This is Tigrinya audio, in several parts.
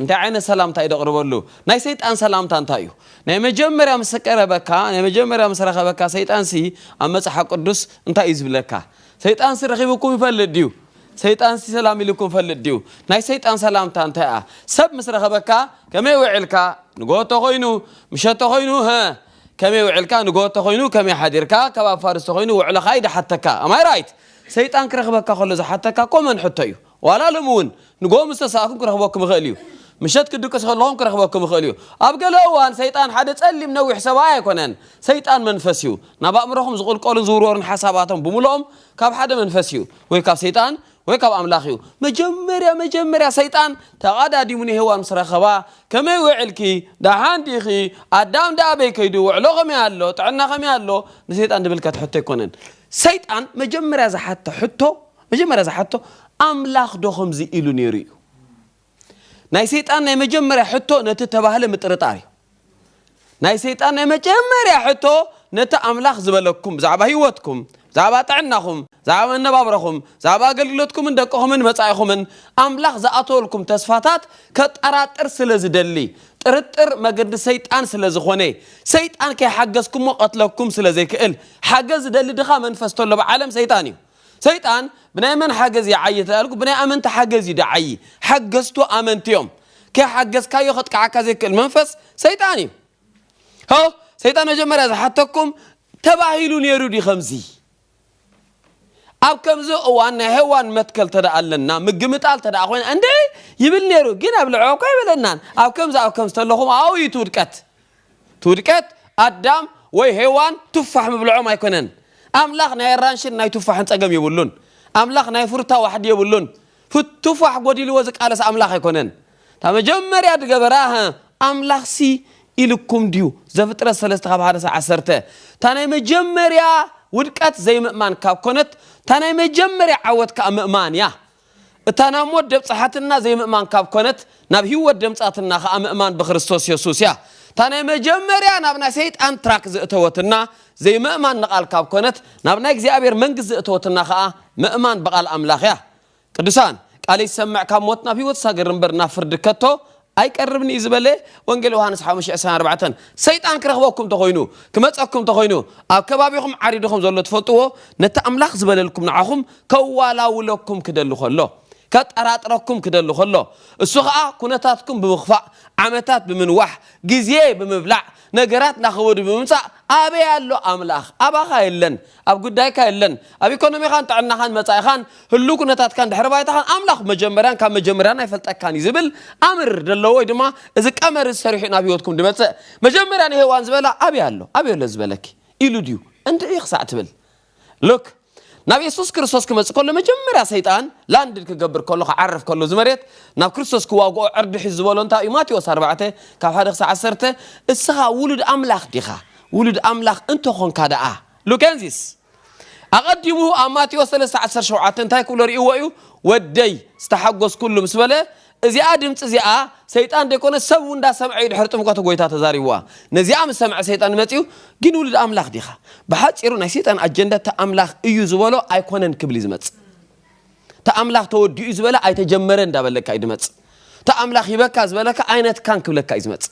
እንታይ ዓይነት ሰላምታ'ዩ ደቕርበሉ? ናይ ሰይጣን ሰላምታ እንታይ'ዩ? ናይ መጀመርያ ምስ ቀረበካ፣ ናይ መጀመርያ ምስ ረኸበካ ሰይጣንሲ ኣብ መጽሓፍ ቅዱስ እንታይ'ዩ ዝብለካ? ሰይጣንሲ ረኺቡኩም ይፈልጥ ድዩ? ሰይጣንሲ ሰላም ኢሉኩም ይፈልጥ ድዩ? ናይ ሰይጣን ሰላምታ እንታይ'ያ? ሰብ ምስ ረኸበካ ከመይ ውዒልካ? ንግሆ ተኾይኑ ምሸት ተኾይኑ ሀ ከመይ ውዒልካ? ንግሆ ተኾይኑ ከመይ ሓዲርካ? ከባቢ ፋርስ ተኾይኑ ውዕሎኻ'ዩ ድሓተካ። Am I right? ሰይጣን ክረኽበካ ከሎ ዝሓተካ ኮመን ሕቶ'ዩ። ዋላ ሎሚ እውን ንግሆ ምስ ተሳእኩም ክረኽበኩም ይኽእል እዩ። ምሸት ክትድቅሱ ከለኹም ክረኽበኩም ይኽእል እዩ። ኣብ ገለ እዋን ሰይጣን ሓደ ጸሊም ነዊሕ ሰብኣይ ኣይኮነን። ሰይጣን መንፈስ እዩ። ናብ ኣእምሮኹም ዝቕልቀሉን ዝውርወሩን ሓሳባቶም ብምሉኦም ካብ ሓደ መንፈስ እዩ። ወይ ካብ ሰይጣን ወይ ካብ ኣምላኽ እዩ። መጀመርያ መጀመርያ ሰይጣን ተቓዳዲሙ ንሄዋን ምስ ረኸባ ከመይ ውዒልኪ? ደሓን ዲኺ? ኣዳም ደኣ ኣበይ ከይዱ? ውዕሎ ከመይ ኣሎ? ጥዕና ከመይ ኣሎ? ንሰይጣን ድብል ከትሐቶ ኣይኮነን። ሰይጣን መጀመርያ ዝሓቶ ሕቶ መጀመርያ ዝሓቶ ኣምላኽ ዶ ከምዚ ኢሉ ነይሩ እዩ? ናይ ሰይጣን ናይ መጀመርያ ሕቶ ነቲ እተባህለ ምጥርጣር እዩ። ናይ ሰይጣን ናይ መጀመርያ ሕቶ ነቲ ኣምላኽ ዝበለኩም ብዛዕባ ህይወትኩም፣ ብዛዕባ ጥዕናኹም፣ ብዛዕባ መነባብሮኹም፣ ብዛዕባ ኣገልግሎትኩምን ደቅኹምን መጻኢኹምን ኣምላኽ ዝኣተወልኩም ተስፋታት ከጠራጥር ስለ ዝደሊ ጥርጥር መገዲ ሰይጣን ስለ ዝኾነ ሰይጣን ከይሓገዝኩሞ ቀትለኩም ስለ ዘይክእል ሓገዝ ዝደሊ ድኻ መንፈስ ተሎ ብዓለም ሰይጣን እዩ። ሰይጣን ብናይ መን ሓገዝ ይዓዪ ተባሂልኩ ብናይ ኣመንቲ ሓገዝ እዩ ድዓዪ ሓገዝቱ ኣመንቲ እዮም ከይሓገዝካዮ ከጥቅዓካ ዘይክእል መንፈስ ሰይጣን እዩ ሆ ሰይጣን መጀመርያ ዝሓተኩም ተባሂሉ ነይሩ ድዩ ከምዚ ኣብ ከምዚ እዋን ናይ ሄዋን መትከል ተደኣ ኣለና ምግምጣል ተደኣ ኮይና እንደ ይብል ነይሩ ግን ኣብ ልዕባ እኳ ኣይበለናን ኣብ ከምዚ ኣብ ከምዚ ተለኹም ኣብኡ እዩ እቲ ውድቀት እቲ ውድቀት ኣዳም ወይ ሄዋን ቱፋሕ ምብልዖም ኣይኮነን። ኣምላኽ ናይ ኣራንሽን ናይ ቱፋሕን ጸገም የብሉን። ኣምላኽ ናይ ፍሩታ ዋሕዲ የብሉን። ቱፋሕ ጎዲልዎ ዝቃለስ ኣምላኽ ኣይኮነን። እታ መጀመርያ ዝገበራ እህ ኣምላኽሲ ኢሉኩም ድዩ ዘፍጥረት ሰለስተ ካብ ሓደ ክሳብ ዓሰርተ እታ ናይ መጀመርያ ውድቀት ዘይምእማን ካብ ኮነት እታ ናይ መጀመርያ ዓወት ከኣ ምእማን እያ። እታ ናብ ሞት ደብጽሓትና ዘይምእማን ካብ ኮነት ናብ ሂወት ደምጻትና ከኣ ምእማን ብክርስቶስ የሱስ እያ እታ ናይ መጀመርያ ናብ ናይ ሰይጣን ትራክ ዘእተወትና ዘይምእማን ንቃል ካብ ኮነት ናብ ናይ እግዚኣብሔር መንግስት ዘእተወትና ከኣ ምእማን ብቃል ኣምላክ እያ ቅዱሳን ቃለይ ዝሰምዕ ካብ ሞት ናብ ሂወት ዝሳገር እምበር ናብ ፍርዲ ከቶ ኣይቀርብን እዩ ዝበለ ወንጌል ዮሃንስ ሓሙሽተ ዕስራን ኣርባዕተን ሰይጣን ክረኽበኩም ተኾይኑ ክመጸኩም ተኾይኑ ኣብ ከባቢኹም ዓሪድኹም ዘሎ ትፈልጥዎ ነቲ ኣምላኽ ዝበለልኩም ንዓኹም ከዋላውለኩም ክደሊ ከሎ ከጠራጥረኩም ክደሊ ከሎ እሱ ኸኣ ኩነታትኩም ብምኽፋእ ዓመታት ብምንዋሕ ግዜ ብምብላዕ ነገራት ናኸበዱ ብምምጻእ ኣበይ ኣሎ ኣምላኽ ኣባኻ የለን ኣብ ጉዳይካ የለን። ኣብ ኢኮኖሚኻን ጥዕናኻን መጻኢኻን ህሉው ኩነታትካን ድሕሪ ባይታኻን ኣምላኽ መጀመርያን ካብ መጀመርያን ኣይፈልጠካን እዩ ዝብል ኣምር ደሎ ወይ ድማ እዚ ቀመር እዚ ሰሪሑ እዩ ናብ ህይወትኩም ድመጽእ። መጀመርያ ንሄዋን ዝበላ ኣበይ ኣሎ ኣበይ ኣሎ ዝበለኪ ኢሉ ድዩ እንድዒ ክሳዕ ትብል Look ናብ የሱስ ክርስቶስ ክመጽእ ከሎ መጀመርያ ሰይጣን ላንድድ ክገብር ከሎ ክዓርፍ ከሎ እዚ መሬት ናብ ክርስቶስ ክዋግኦ ዕርዲ ሒዙ ዝበሎ እንታይ እዩ ማቴዎስ ኣርባዕተ ካብ ሓደ ክሳዕ ዓሰርተ እስኻ ውሉድ ኣምላኽ ዲኻ ውሉድ ኣምላኽ እንተ ዀንካ ደኣ። ሉኬንዚስ ኣቐዲሙ ኣብ ማቴዎስ ሰለስተ ዓሰርተ ሸውዓተ እንታይ ክብሎ ርእይዎ እዩ? ወደይ፣ ዝተሓጐስኩሉ ምስ በለ፣ እዚኣ ድምጺ እዚኣ ሰይጣን ደይኰነስ ሰብ እውን እንዳሰምዐ እዩ ድሕሪ ጥምቀቱ ጐይታ ተዛሪብዋ። ነዚኣ ምስ ሰምዐ ሰይጣን መጺኡ፣ ግን ውሉድ ኣምላኽ ዲኻ? ብሓጺሩ ናይ ሰይጣን ኣጀንዳ እቲ ኣምላኽ እዩ ዝበሎ ኣይኰነን ክብል እዩ ዝመጽእ። እቲ ኣምላኽ ተወዲኡ እዩ ዝበለ ኣይተጀመረን እንዳበለካ እዩ ድመጽእ። እቲ ኣምላኽ ሂበካ ዝበለካ ኣይነትካን ክብለካ እዩ ዝመጽእ።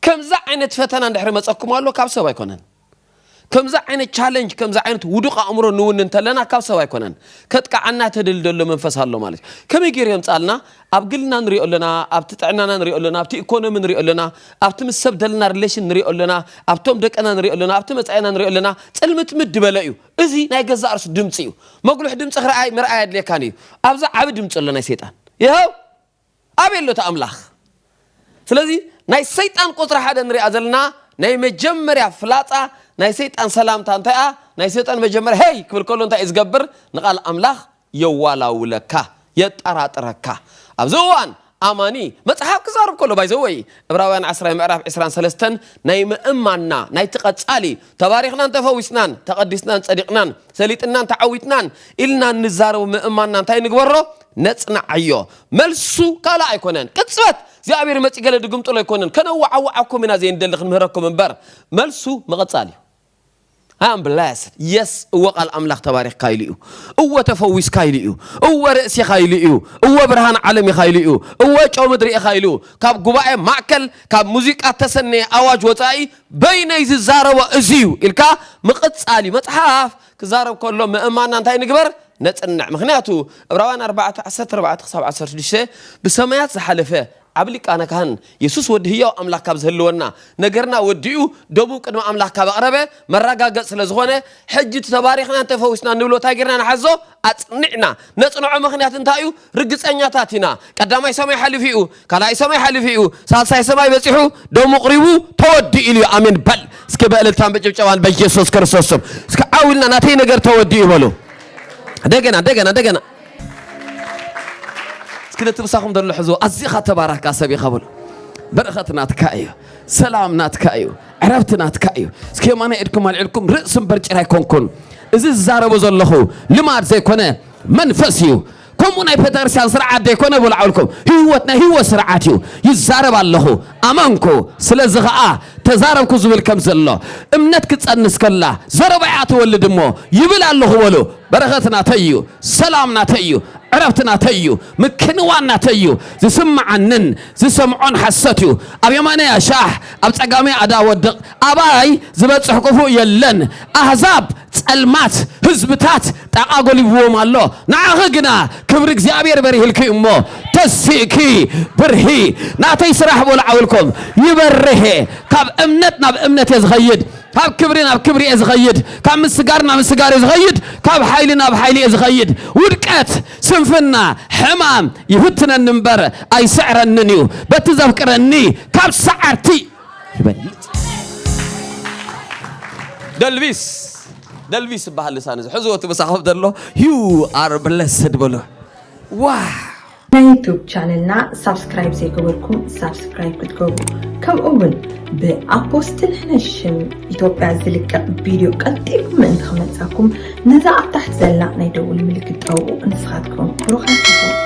ከምዚ ዓይነት ፈተና እንድሕሪ መጸኩም ኣሎ ካብ ሰብ ኣይኮነን። ከምዚ ዓይነት ቻለንጅ ከምዚ ዓይነት ውዱቕ ኣእምሮ ንውን እንተለና ካብ ሰብ ኣይኮነን ከጥቃዓና ተደል ደሎ መንፈስ ኣሎ ማለት እዩ ከመይ ገይሩ የምጻልና ኣብ ግልና ንሪኦ ኣለና ኣብቲ ጥዕናና ንሪኦ ኣለና ኣብቲ ኢኮኖሚ ንሪኦ ኣለና ኣብቲ ምስ ሰብ ደለና ሪሌሽን ንሪኦ ኣለና ኣብቶም ደቅና ንሪኦ ኣለና ኣብቲ መጻኢና ንሪኦ ኣለና ጽልምትምት ድበለ እዩ እዚ ናይ ገዛ እርሱ ድምፂ እዩ መጉልሕ ድምፂ ክረኣይ ምርኣይ ኣድልየካን እዩ ኣብዛ ዓብ ድምፂ ኣሎ ናይ ሰይጣን ይኸው ኣበይ ኣሎ እቲ ኣምላኽ? ስለዚ ናይ ሰይጣን ቁጽሪ ሓደ ንሪኣ ዘለና ናይ መጀመርያ ፍላጻ ናይ ሰይጣን ሰላምታ እንታይ እያ? ናይ ሰይጣን መጀመርያ ሄይ ክብል ከሎ እንታይ እዩ ዝገብር? ንቓል ኣምላኽ የዋላውለካ፣ የጣራጥረካ። ኣብዚ እዋን ኣማኒ መጽሓፍ ክዛረብ ከሎ ባይ ዘ ወይ እብራውያን ዓስራይ ምዕራፍ ዕስራን ሰለስተን ናይ ምእማንና ናይቲ ቀጻሊ ተባሪኽናን ተፈዊስናን ተቐዲስናን ጸዲቕናን ሰሊጥናን ተዓዊትናን ኢልና እንዛረቦ ምእማንና እንታይ ንግበሮ? ነጽንዓዮ መልሱ ካልእ ኣይኮነን ቅጽበት እግዚኣብሔር መጺ ገለ ድግምጥሎ ኣይኮነን ከነዋዓውዓኩም ኢና ዘይንደሊ ክንምህረኩም እምበር መልሱ ምቕጻል እዩ I am blessed. Yes, እወ ቃል ኣምላኽ ተባሪኽካ ኢሉ እዩ። እወ ተፈዊስካ ኢሉ እዩ። እወ ርእሲ ኢኻ ኢሉ እዩ። እወ ብርሃን ዓለም ኢኻ ኢሉ እዩ። እወ ጨው ምድሪ ኢኻ ኢሉ። ካብ ጉባኤ ማእከል ካብ ሙዚቃ እተሰነየ ኣዋጅ ወጻኢ በይነይ ዝዛረቦ እዚ እዩ ኢልካ ምቕጻል እዩ። መጽሓፍ ክዛረብ ከሎ ምእማና እንታይ ንግበር ነጽንዕ ምክንያቱ እብራውያን ኣርባዕተ ዓሰርተ ኣርባዕተ ክሳብ ዓሰርተ ሽዱሽተ ብሰማያት ዝሓለፈ ዓቢ ሊቃነ ካህን የሱስ ወዲ ህያው ኣምላኽ ካብ ዝህልወና ነገርና ወዲኡ ደቡብ ቅድሚ ኣምላኽ ካብ ኣቕረበ መረጋገጽ ስለ ዝኾነ ሕጂ እቲ ተባሪኽና እንተፈዊስና ንብሎ እንታይ ጌርና ንሓዞ ኣጽኒዕና ነጽንዖ ምክንያት እንታይ እዩ ርግጸኛታት ኢና ቀዳማይ ሰማይ ሓሊፉ እዩ ካልኣይ ሰማይ ሓሊፉ እዩ ሳልሳይ ሰማይ በጺሑ ደሙ ቅሪቡ ተወዲኡ ኢሉ እዩ ኣሜን በል እስኪ በእልልታን በጭብጨባን በኢየሱስ ክርስቶስ ስም እስኪ ዓው ኢልና ናተይ ነገር ተወዲኡ በሉ እንደገና እንደገና እንደገና እስኪ ነቲ ምሳኹም ዘሎ ሕዝቦ ኣዚኻ ተባራካ ሰብ ኢኻ በሉ በረኸት ናትካ እዩ ሰላም ናትካ እዩ ዕረፍቲ ናትካ እዩ እስኪ የማና ኢድኩም ኣልዒልኩም ርእሲ እምበር ጭራ ኣይኮንኩን እዚ ዝዛረቦ ዘለኹ ልማድ ዘይኮነ መንፈስ እዩ ከምኡ ናይ ፐተርስያን ስርዓት ዘይኮነ ብላዕልኩም ህይወት ናይ ህይወት ስርዓት እዩ ይዛረብ ኣለኹ ኣመንኩ ስለዚ ኸዓ ተዛረብኩ ዝብል ከም ዘሎ እምነት ክፀንስ ከላ ዘረባ እያ ትወልድ እሞ ይብል ኣለኹ በሉ በረኸት ናተይ እዩ ሰላም ናተይ እዩ ዕረፍቲ ናተይ እዩ ምክንዋን ናተይ እዩ ዝስምዓንን ዝሰምዖን ሓሰት እዩ ኣብ የማነይ ኣሻሕ ኣብ ፀጋመይ ኣዳ ወድቕ ኣባይ ዝበፅሕ ክፉእ የለን ኣህዛብ ጸልማት ህዝብታት ጣቓ ጎሊብዎም ኣሎ፣ ንዓኺ ግና ክብሪ እግዚኣብሔር በሪህልኪ እዩ እሞ፣ ተሲእኪ ብርሂ። ናተይ ስራሕ በሉ ዓውልኩም ይበርህ እየ፣ ካብ እምነት ናብ እምነት እየ ዝኸይድ፣ ካብ ክብሪ ናብ ክብሪ እየ ዝኸይድ፣ ካብ ምስጋር ናብ ምስጋር እየ ዝኸይድ፣ ካብ ሓይሊ ናብ ሓይሊ እየ ዝኸይድ። ውድቀት፣ ስንፍና፣ ሕማም ይፍትነኒ እምበር ኣይስዕረንን እዩ፣ በቲ ዘፍቅረኒ ካብ ሰዓርቲ። ይበልጽ። ደልቪስ ደልቪስ ዝበሃል ልሳን እዚ ሕዝዎ እቲ ምሳኹም ዘሎ ዩ ኣር ብለስድ በሎ ዋው ናይ ዩቱብ ቻነልና ሳብስክራይብ ዘይገበርኩም ሳብስክራይብ ክትገብሩ ከምኡ እውን ብኣቦስትል ሕነሽም ኢትዮጵያ ዝልቀቕ ቪድዮ ቀልጢፉ ምእንቲ ክመፃኩም ነዛ ኣብ ታሕቲ ዘላ ናይ ደውል ምልክት ጠውቑ ንስኻትኩም ብሩኻት